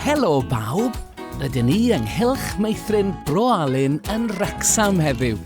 Helo bawb, rydyn ni ynghylch meithrin Bro Alun yn Wrecsam heddiw.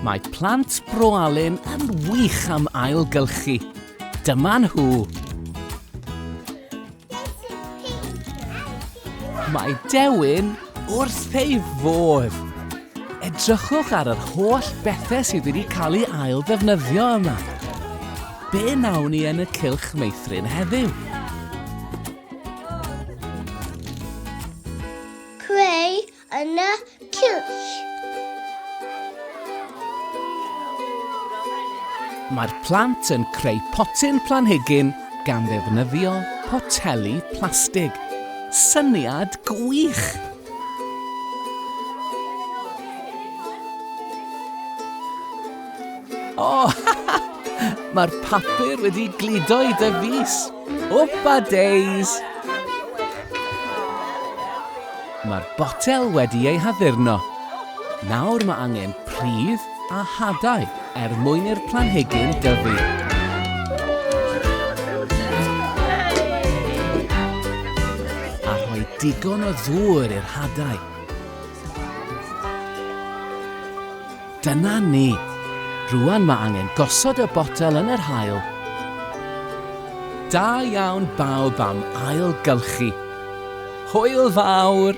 Mae plant Bro Alun yn wych am ailgylchu. Dyma nhw. Mae Dewin wrth ei fodd! Edrychwch ar yr holl bethau sydd wedi cael ei ail ddefnyddio yma. Be nawn ni yn y cylch meithrin heddiw? Creu yn y cylch. Mae'r plant yn creu potyn planhigyn gan ddefnyddio poteli plastig. Syniad gwych! O! Mae'r papur wedi gludo i dy fys! Wpa days! Mae'r botel wedi ei haddurno. Nawr mae angen pridd a hadau er mwyn i'r planhigyn dyfu. digon o ddŵr i'r hadau. Dyna ni! Rŵan mae angen gosod y botel yn yr haul. Da iawn bawb am ailgylchu. Hwyl fawr!